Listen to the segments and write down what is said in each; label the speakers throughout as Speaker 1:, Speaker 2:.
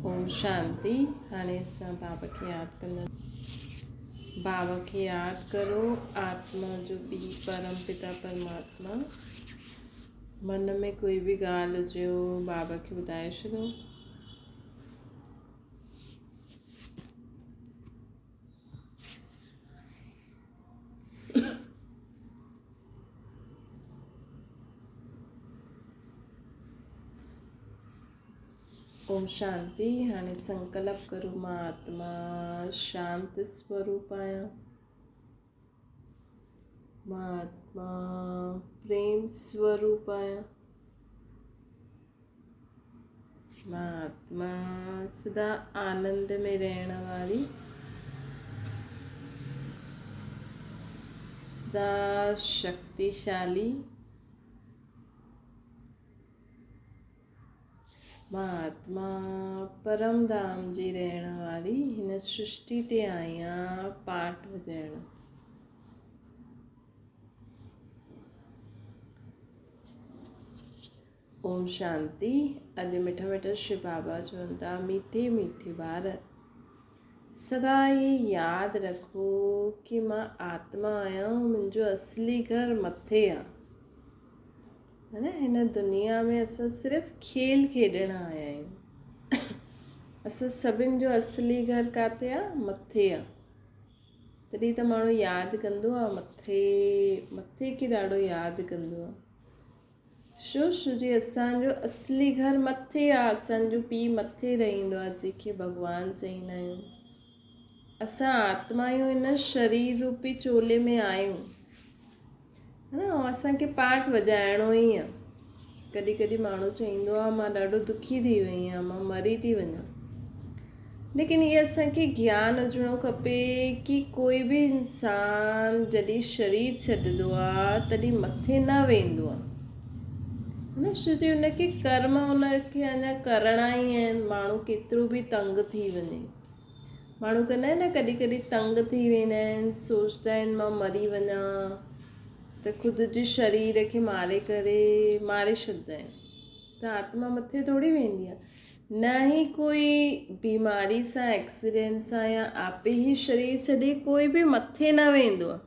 Speaker 1: اوم شانتي هاڻي اسان بابا کي ياد ڪنداسين بابا کي ياد ڪرو آتما جو پي پرم پتا پرماتما من ۾ ڪوئي به ڳالهه هجي هو بابا کي ٻڌائي ڇڏو اوم شانتي هاڻي سنڪلپ ڪرو مان آتما شانت سوروپ آهيان مان آتما پريم سوروپ آهيان مان آتما سدا آنند ۾ رهڻ واري سدا شڪتيشالي مهاتما پرم ڌام جي رهڻ واري هن سرشتي تي آيان پاٽ وڄائڻ. اوم شانتي اڄ مٺا مٺا شو بابا چون ٿا ميٺي ميٺي ٻار سدا هي ياد رکو ڪي مان آتما آهيان منهنجو اصلي گهر مٿي آ معنيٰ هن دنيا ۾ اسان صرف کيل کيڏڻ آيا آهيون. اسان سڀن جو اصلي گهر ڪاٿي آ؟ مٿي آ. تڏهن ته ماڻهو ياد ڪندو آ مٿي مٿي کي ڏاڍو ياد ڪندو آ. شو شو جي اسان جو اصلي گهر مٿي آ اسان جو پي مٿي رهندو آ جنهن کي ڀڳوان چئيندا آهيون. اسان آتمايون هن شرير روپي چولي ۾ آهيون. ها نه اسان کي پارٽ وڄائڻو ئي آ. ڪڏهن ڪڏهن ماڻهو چئيندو آ مان ڏاڍو دکي ٿي وئي آهيان مان مري ٿي وڃان ليڪن هي اسان کي گيان هجڻو کپي ڪي ڪوئي به انسان جڏهن شرير ڇڏدو آ تڏهن مٿي نه ويندو آ نه شو جي ان کي ڪرم ان کي اڃا ڪرڻا ئي آهن ماڻهو ڪيترو به تنگ ٿي وڃي. ماڻهو ڪندا آهن نه ڪڏهن ڪڏهن تنگ ٿي ويندا آهن سوچدا آهن مان مري وڃا ته خود جي شرير کي ماري ڪري ماري ڇڏدا آهن ته آتما مٿي ٿوري ويندي آهي نه هي ڪوئي بيماري سان ايڪسيڊنٽ سان يا آپي هي شرير ڇڏي ڪوئي به مٿي نه ويندو آهي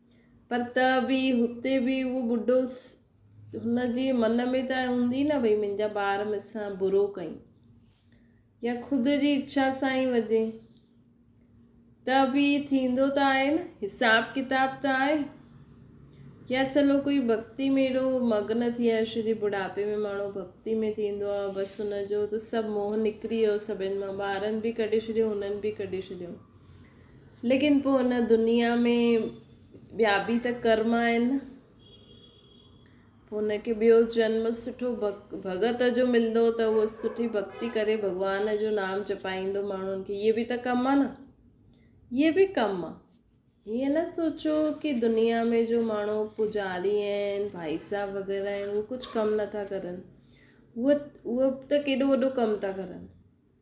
Speaker 1: پر ته به هتي به اهو ٻڍو هن جي من ۾ ته هوندي نه ڀئي منهنجا ٻار مون سان برو ڪيون يا خود جي اڇا سان ئي وجهي ته به ٿيندو ته آهي نه حساب ڪتاب ته آهي يا چلو ڪوئي ڀڳتي ۾ اهڙو مگن ٿي ويو شو جي ٻڍاپي ۾ ماڻهو ڀڳتي ۾ ٿيندو آهي بس هن جو ته سڀ موهه نڪري ويو سڀن مان ٻارن به ڪڍي ڇڏيو هنن به ڪڍي ڇڏيو ليڪن پوء ان دنيا ۾ ٻيا به ته ڪرم آهن نه. پوء ان کي ٻيو جنم سٺو ڀڳت جو ملندو ته اهو سٺي ڀڳتي ڪري ڀڳوان جو نام جپائيندو ماڻهن کي هيء به ته ڪم آهي نه. هيء به ڪم آهي. هيء نه سوچو ڪي دنيا ۾ جو ماڻهو پوڄاري آهن، ڀائي صاحب وغيره آهن اهي ڪجهه ڪم نٿا ڪرن. اهي ته ڪيڏو وڏو ڪم ٿا ڪرن.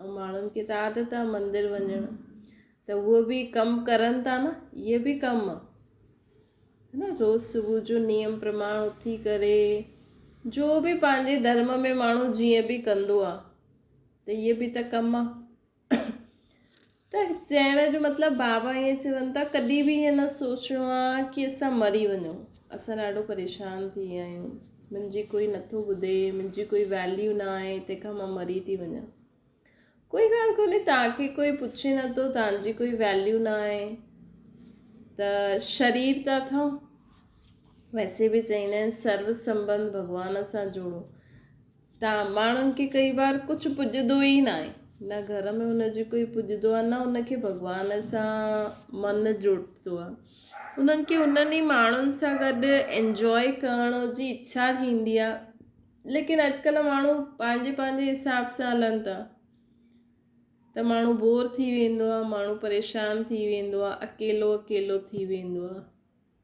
Speaker 1: ته ماڻهن کي ته عادت آ مندر وڃڻ ته اهي به ڪم ڪرن ٿا نه اهي به ڪم آ نه روز صبح جو نيم پرماڻ اٿي ڪري جو به پنهنجي ڌرم ۾ ماڻهو جيئن به ڪندو آ ته اهي به ته ڪم آ ته چئڻ جو مطلب بابا ائين چون ٿا ڪڏهن به ائين نه سوچڻو آهي ڪي اسان مري وڃون اسان ڏاڍو پريشان ٿي ويا آهيون منهنجي ڪوئي نٿو ٻڌي منهنجي ڪوئي ويليو نه آهي تنهن کان مان مري ٿي وڃان ڪوئي ڳالهه ڪونهي تان کي ڪوئي پڇي نٿو تان جي ڪوئي ويليو نه آهي ته شرير ته اٿئون ويسي به چئيندا آهن سرو سنبنڌ ڀڳوان سان جوڙو تان ماڻهن کي ڪئي بار ڪجهه پڄدو ئي ناهي، نه گهر ۾ هن جي ڪوئي پڄدو آهي نه هن کي ڀڳوان سان من جڙدو آهي. هنن کي هنن ئي ماڻهن سان گڏ انجواء ڪرڻ جي اڇا ٿيندي آهي ليڪن اڄڪلهه ماڻهو پنهنجي پنهنجي حساب سان هلن ٿا ته ماڻهو بور ٿي ويندو آهي ماڻهو پريشان ٿي ويندو آهي اڪيلو اڪيلو ٿي ويندو آهي.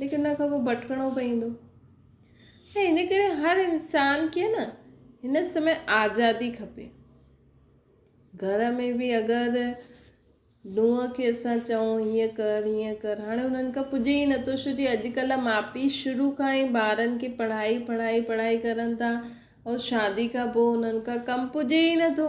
Speaker 1: ليڪن ان کان پوء ڀٽڪڻو پوندو ۽ ان ڪري هر انسان کي نه هن سمي آزادي کپي گهر ۾ به اگر نونهن کي اسان چئون هيئن ڪر هيئن ڪر هاڻي انهن کان پڄي ئي نٿو شو جي اڄڪلهه ماء پي شروع کان ئي ٻارن کي پڙهائي پڙهائي پڙهائي ڪرن ٿا ۽ شادي کان پوء انهن کان ڪم پڄي ئي نٿو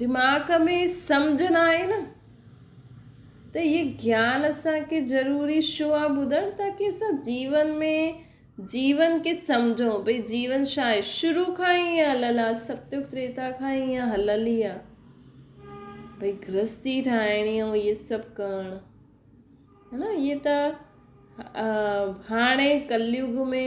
Speaker 1: دماغ ۾ سمجهه نه آئي نه ته اهي گيان اسان کي ضروري شو آ ٻڌڻ تاڪي اسان جيون ۾ جيون کي سمجهون ڀئي جيون شا آهي شروع کان ئي ايئن هليل آ ستيو تريتا کان ئي ايئن هليل ئي آ ڀئي گرهستي ٺاهڻي ۽ اهي سڀ ڪرڻ ها نه اهي ته هاڻي ڪليوگ ۾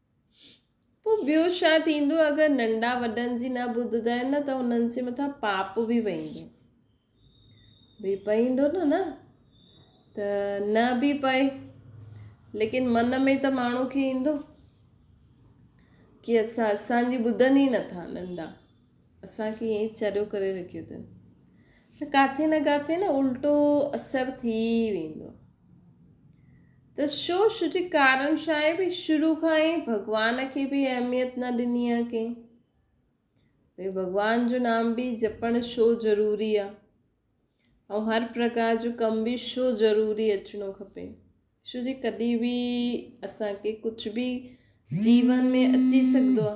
Speaker 1: پوء ٻيو ڇا ٿيندو؟ اگر ننڍا وڏن جي نه ٻڌدا آهن نه ته انهن جي مٿان پاپ به پئيندو. به پئيندو نه نه ته نه به پئي ليڪن من ۾ ته ماڻهو کي ايندو. ڪي اسان اسان جي ٻڌن ئي نٿا ننڍا اسان کي ائين چريو ڪري رکيو اٿن ته ڪاٿي نه ڪاٿي نه الٽو اثر ٿي ويندو ته شو شو جي ڪارن شاء به شروع کان ئي ڀڳوان کي به اهميت نه ڏني آ ڪنهن ڀي ڀڳوان جو نام به جپڻ شو ضروري آ ۽ هر پرڪار جو ڪم به شو ضروري اچڻو کپي شو جي ڪڏي به اسان کي ڪجهه به جيون ۾ اچي سگهندو آ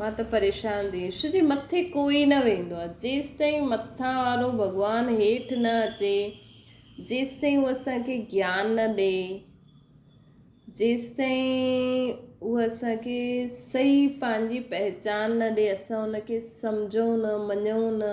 Speaker 1: مان ته پريشان ٿي ويس ڇو جو مٿي ڪوئي نه ويندو آهي جيستائين مٿان وارو ڀڳوان هيٺ نه اچي جيستائين هو اسان کي گيان نه ڏي جيستائين هو اسان کي صحيح پنهنجي پهچان نه ڏي اسان ان کي سمجهون نه مڃون نه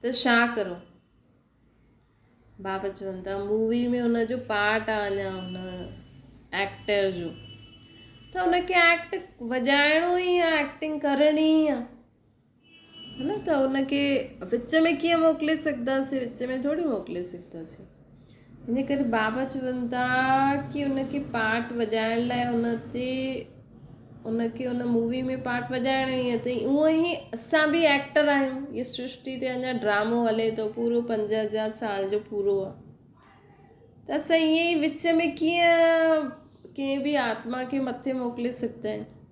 Speaker 1: ته شا ڪرون بابا چون ٿا مووي ۾ ان جو پارٽ آ اڃا ان ايڪٽر جو ته ان کي ايڪٽ وڄائڻو ئي آ ايڪٽنگ ڪرڻي ئي آ ھن ته ان کي وچ ۾ ڪيئن موڪلي سگھداسين وچ ۾ ٿوري موڪلي سگھداسين ان ڪري بابا چون ٿا ڪي ان کي پارٽ وڄائڻ لاء ان تي ان کي ان مووي ۾ پارٽ وڄائڻو ئي اٿئي ائون ھي اسان بي ايڪٽر آھيون ھي سرشٽي تي اڃا ڊرامو ھلي ٿو پورو پنج ھزار سال جو پورو آ ته اسان ائين ئي وچ ۾ ڪيئن ڪنھن بي آتما کي مٿي موڪلي سگھندا آھيون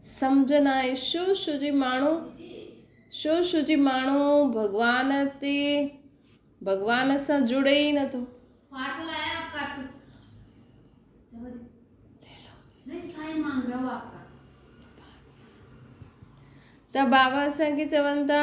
Speaker 1: سمجهه ناهي شو شو جي ماڻهو شو شو جي ماڻهو ڀڳوان تي ڀڳوان سان جڙي ئي نٿو ته بابا اسان کي چون ٿا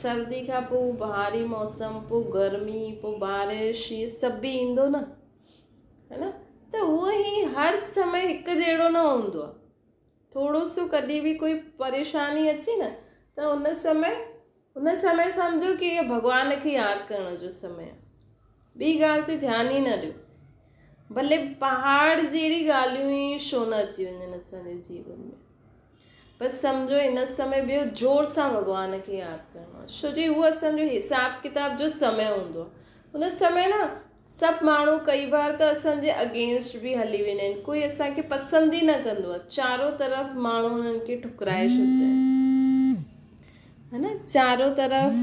Speaker 1: سردي کان پوء بهاري موسم پوء گرمي پوء بارش هي سڀ به ايندو نه هي نه ته هو هي هر سمي هڪ جهڙو نه هوندو آ ٿورو سو ڪڏي به ڪوئي پريشاني اچي نه ته هن سمي هن سمي سمجهو ڪي هي ڀڳوان کي ياد ڪرڻ جو سمي آ ٻي ڳالهه تي ڌيان ئي نه ڏيو ڀلي پهاڙ جهڙي ڳالهيون ئي شو نه اچي وڃن اسان جي جيون ۾ بس سمجهو ان سمي ٻيو زور سان ڀڳوان کي ياد ڪرڻو آهي ڇو جي هو اسانجو حساب ڪتاب جو سمي هوندو آهي ان سمي نه سڀ ماڻهو ڪئي بار ته اسانجي اگينسٽ به هلي ويندا آهن ڪوئي اسانکي پسند ئي نه ڪندو آهي چارو طرف ماڻهو انهن کي ٺڪرائي ڇڏيندا آهن ها نه چارو طرف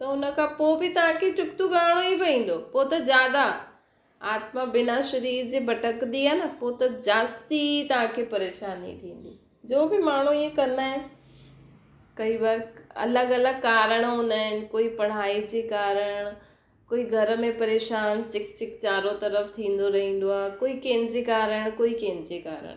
Speaker 1: ته ان کان پوء به توهان کي چڪتون ڳائڻو ئي پوندو. پوء ته زياده آتما بنا شرير جي ڀٽڪندي آهي نه، پوء ته جاستي توهان کي پريشاني ٿيندي. جو به ماڻهو ائين ڪندا آهن، ڪئي بار الڳ الڳ ڪارڻ هوندا آهن، ڪوئي پڙهائي جي ڪارڻ، ڪوئي گهر ۾ پريشان چڪ چڪ چارو طرف ٿيندو رهندو آهي، ڪوئي ڪنهن جي ڪارڻ، ڪوئي ڪنهن جي ڪارڻ.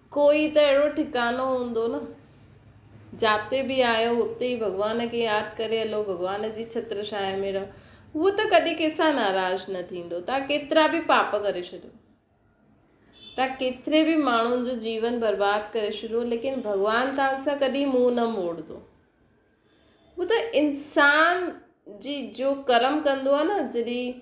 Speaker 1: ڪوئي ته اهڙو ٺڪانو هوندو نه. جاتي به آهيو اتي ئي ڀڳوان کي ياد ڪري هلو ڀڳوان جي ڇتر ڇانء ۾ رهو هو ته ڪڏهن ڪنهن سان ناراض نه ٿيندو توهان ڪيترا به پاپ ڪري ڇڏيو توهان ڪيتري به ماڻهن جو جيون برباد ڪري ڇڏيو ليڪن ڀڳوان توهان سان ڪڏهن منهن نه موڙندو هو ته انسان جي جو ڪرم ڪندو آهي نه جڏهن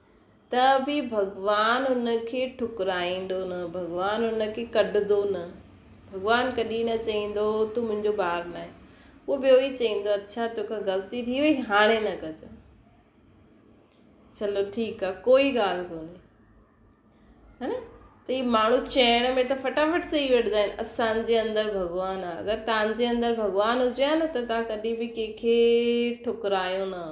Speaker 1: ته به ڀڳوان ان کي ٺڪرائيندو نه، ڀڳوان ان کي ڪڍندو نه، ڀڳوان ڪڏهن نه چئيندو تون منهنجو ٻار ناهين، اهو ٻيو ئي چئيندو اڇا توکان غلطي ٿي وئي هاڻي نه ڪجئ، چلو ٺيڪ آ ڪوئي ڳالهه ڪونهي ها نه ته هي ماڻهو چئڻ ۾ ته فٽافٽ چئي وٺندا آهن اسانجي اندر ڀڳوان آ اگر تانجي اندر ڀڳوان هجي ها نه ته تان ڪڏهن به ڪنهن کي ٺڪرايو نه ها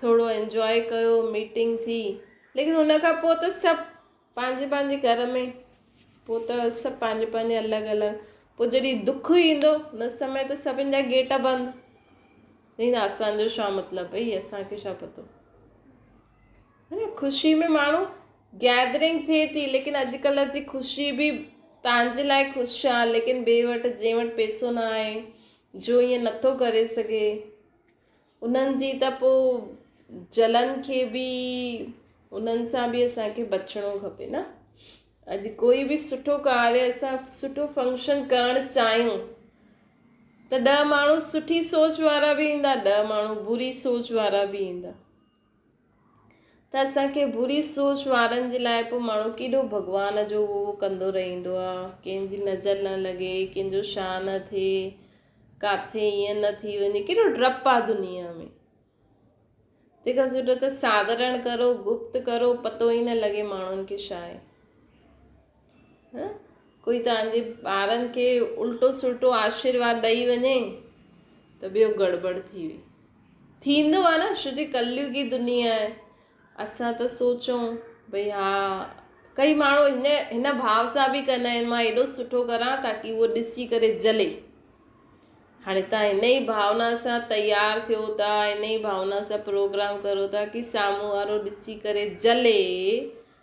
Speaker 1: ٿورو انجواء ڪيو ميٽنگ ٿي ليڪن ان کان پوء ته سڀ پنهنجي پنهنجي گهر ۾ پوء ته سڀ پنهنجي پنهنجي الڳ الڳ پوء جڏهن دک ايندو ان سمي ته سڀن جا گيٽ بند ني نه اسانجو شا مطلب ڀئي اسانکي شا پتو هن خوشي ۾ ماڻهو گيدرنگ ٿئي ٿي ليڪن اڄڪلهه جي خوشي به تنهنجي لاء خوش آ ليڪن ٻي وٽ جنهن وٽ پيسو نه آهي جو ائين نٿو ڪري سگهي انهن جي ته پوء جلن کي به انهن سان به اسان کي بچڻو کپي نه اڄ ڪوئي به سٺو ڪاري اسان سٺو فنڪشن ڪرڻ چاهيون ته ڏهه ماڻهو سٺي سوچ وارا به ايندا ڏهه ماڻهو بري سوچ وارا به ايندا ته اسان کي بري سوچ وارن جي لاء پوء ماڻهو ڪيڏو ڀڳوان جو اهو اهو ڪندو رهندو آ، ڪنهن جي نظر نه لڳي، ڪنهن جو شاهه نه ٿئي، ڪاٿي ايئن نه ٿي وڃي، ڪيڏو ڊپ آ دنيا ۾. تنهن کان سٺو ته ساڌرڻ ڪرو، گپت ڪرو، پتو ئي نه لڳي ماڻهن کي شاهه آهي. ڪوئي توهان جي ٻارن کي الٽو سلٽو آشيرواد ڏئي وڃي ته ٻيو گڙٻڙ ٿي وئي ٿيندو آ نه شو جي ڪليوگي دنيا آهي اسان ته سوچون ڀئي ها ڪئي ماڻهو ان هن ڀاو سان به ڪندا آهن مان ايڏو سٺو ڪران تاڪي هو ڏسي ڪري جلي هاڻي تان ان ئي ڀاونا سان تيار ٿيو ٿا ان ئي ڀاونا سان پروگرام ڪرو ٿا ڪي سامهون وارو ڏسي ڪري جلي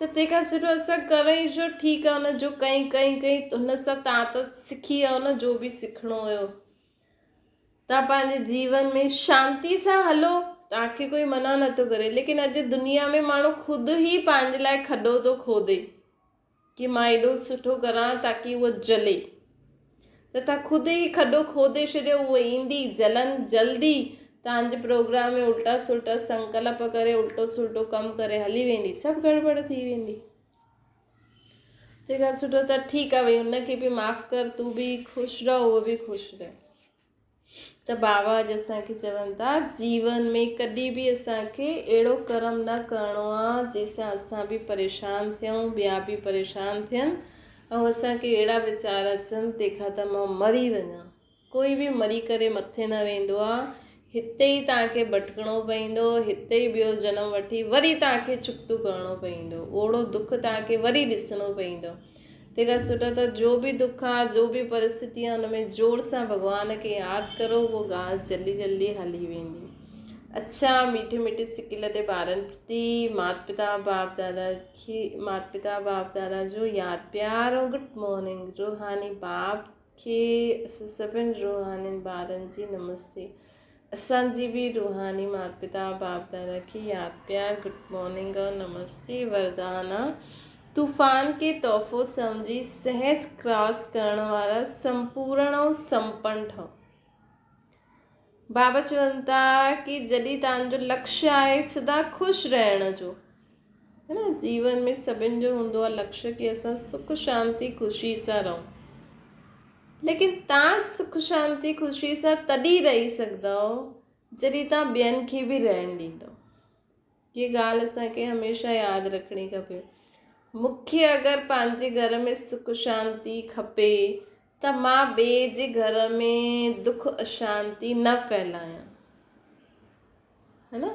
Speaker 1: ته تنهن کان سٺو اسان ڪرون ئي ڇو، ٺيڪ آهي هن جو ڪئين ڪئين ڪئين هن سان تان ته سکي ويو نه جو به سکڻو هيو، تان پنهنجي جيون ۾ شانتي سان هلو تان کي ڪوئي منع نه ٿو ڪري ليڪن اڄ دنيا ۾ ماڻهو خود هي پنهنجي لاء کڏو ٿو کوڏي. ڪي مان ايڏو سٺو ڪران تاڪي هوء جلي ته تهان خود ئي کڏو کوڏي ڇڏيو هوء ايندي جلن جلدي تهانجي پروگرام ۾ الٽا سلٽا سنڪلپ ڪري الٽو سلٽو ڪم ڪري هلي ويندي سڀ گڙٻڙ ٿي ويندي تنهنکان سٺو ته ٺيڪ آ ڀئي هن کي به معاف ڪر تون به خوش رهه هوء به خوش رهي ته بابا اڄ اسان کي چون ٿا جيون ۾ ڪڏهن به اسان کي اهڙو ڪرم نه ڪرڻو آ جنهن سان اسان به پريشان ٿيون ٻيا به پريشان ٿين ۽ اسان کي اهڙا ويچار اچن تنهن کان ته مان مري وڃان ڪوئي به مري ڪري مٿي نه ويندو آ هتي ئي تان کي ڀٽڪڻو پوندو هتي ئي ٻيو جنم وٺي وري تان کي چڪتو ڪرڻو پوندو اوڙو دک تان کي وري ڏسڻو پوندو تنهن کان سٺو اٿو جو به دک آ جو به پرستتي آ ان ۾ زور سان ڀڳوان کي ياد ڪرو اهو ڳالهه جلدي جلدي هلي ويندي اڇا ميٺي ميٺي سڪل تي ٻارن پرتي مات پتا باپ دادا کي مات پتا باپ دادا جو ياد پيار ۽ گڊ مارننگ روحاني باپ کي اسان سڀن روحانين ٻارن جي نمستي اسان جي به روحاني مات پتا باپ دادا کي ياد پيار گڊ مارننگ اور نمستي وردانا طوفان کي تحفو سمجهي سهج ڪراس ڪرڻ وارا سمپورڻ ۽ سمپن ٺهو بابا چون ٿا ڪي جڏي تان جو لڪش آهي سدا خوش رهڻ جو جيون ۾ سڀن جو هوندو آ لڪشي ڪي اسان سک شانتي خوشي سان رهون ليڪن تان سک شانتي خوشي سان تڏي رهي سگهداو جڏي تان ٻين کي به رهڻ ڏينداو هي ڳالهه اسان کي هميشه ياد رکڻي کپي مون کي اگر پنهنجي گهر ۾ سک شانتي کپي ته مان ٻي جي گهر ۾ دک اشانتي نه ڦهلايان ها نه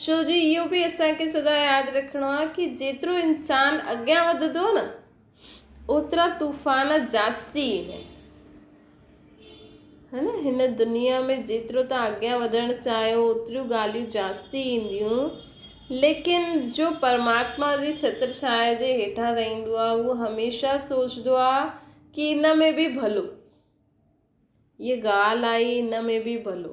Speaker 1: ڇو جو اهو به اسان کي سدا ياد رکڻو آهي ڪي جيترو انسان اڳيان وڌندو نه اوترا طوفان جاستي ايندا آهن ها نه هن دنيا ۾ جيترو تان اڳيان وڌڻ چاهيو اوتريون ڳالهيون جاستي اينديون ليڪن جو پرماتما جي ڇتر ڇايا جي هيٺان رهندو آهي اهو هميشه سوچدو آهي ڪي ان ۾ به ڀلو هي ڳالهه آهي ان ۾ به ڀلو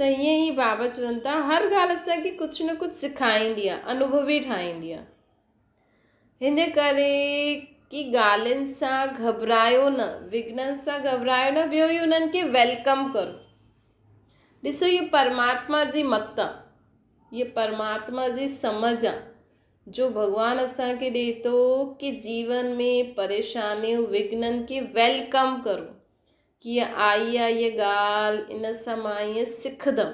Speaker 1: ته ائين ئي بابا چون ٿا هر ڳالهه اسان کي ڪجهه نه ڪجهه سکائيندي آهي انوڀوي ٺاهيندي آهي هن ڪري ڪي ڳالهين سان گهٻرايو نه وگهنن سان گهٻرايو نه ٻيو هي انهن کي ويلڪم ڪرو ڏسو هي پرماتما جي مت آهي هي پرماتما جي سمجهه آهي جو ڀڳوان اسان کي ڏي ٿو ڪي جيون ۾ پريشانيون وگهنن کي ويلڪم ڪرو ڪيئن آئي آ هيء ڳالهه، ان سان مان ائين سکندم.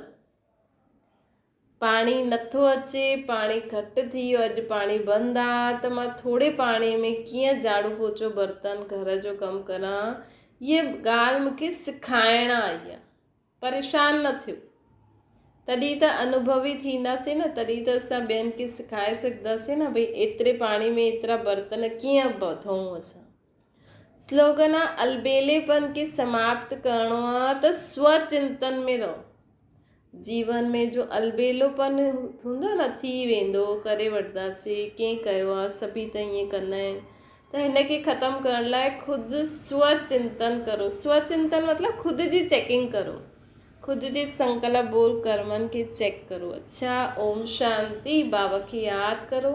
Speaker 1: پاڻي نٿو اچي، پاڻي گهٽ ٿي ويو، اڄ پاڻي بند آ، ته مان ٿوري پاڻي ۾ ڪيئن جهاڙو پوچو، برتن، گهر جو ڪم ڪران، هيء ڳالهه مون کي سکائڻ آئي آ. پريشان نه ٿيو تڏهن ته انوڀوي ٿينداسين نه تڏهن ته اسان ٻين کي سکائي سگهنداسين نه ڀئي ايتري پاڻي ۾ ايترا برتن ڪيئن ڌوئون اسان سلوگن آ البيلي پن کي سماپت ڪرڻو آ ته سو چنتن ۾ رهو جيون ۾ جو البيلو پن هوندو نه ٿي ويندو ڪري وٺنداسين ڪئين ڪيو آ سڀي ته ائين ڪندا آهن ته هن کي ختم ڪرڻ لاء خود سو چنتن ڪرو سو چنتن مطلب خود جي چيڪنگ ڪرو خود جي سنڪلپ بول ڪرمن کي چيڪ ڪرو اڇا اوم شانتي باوء کي ياد ڪرو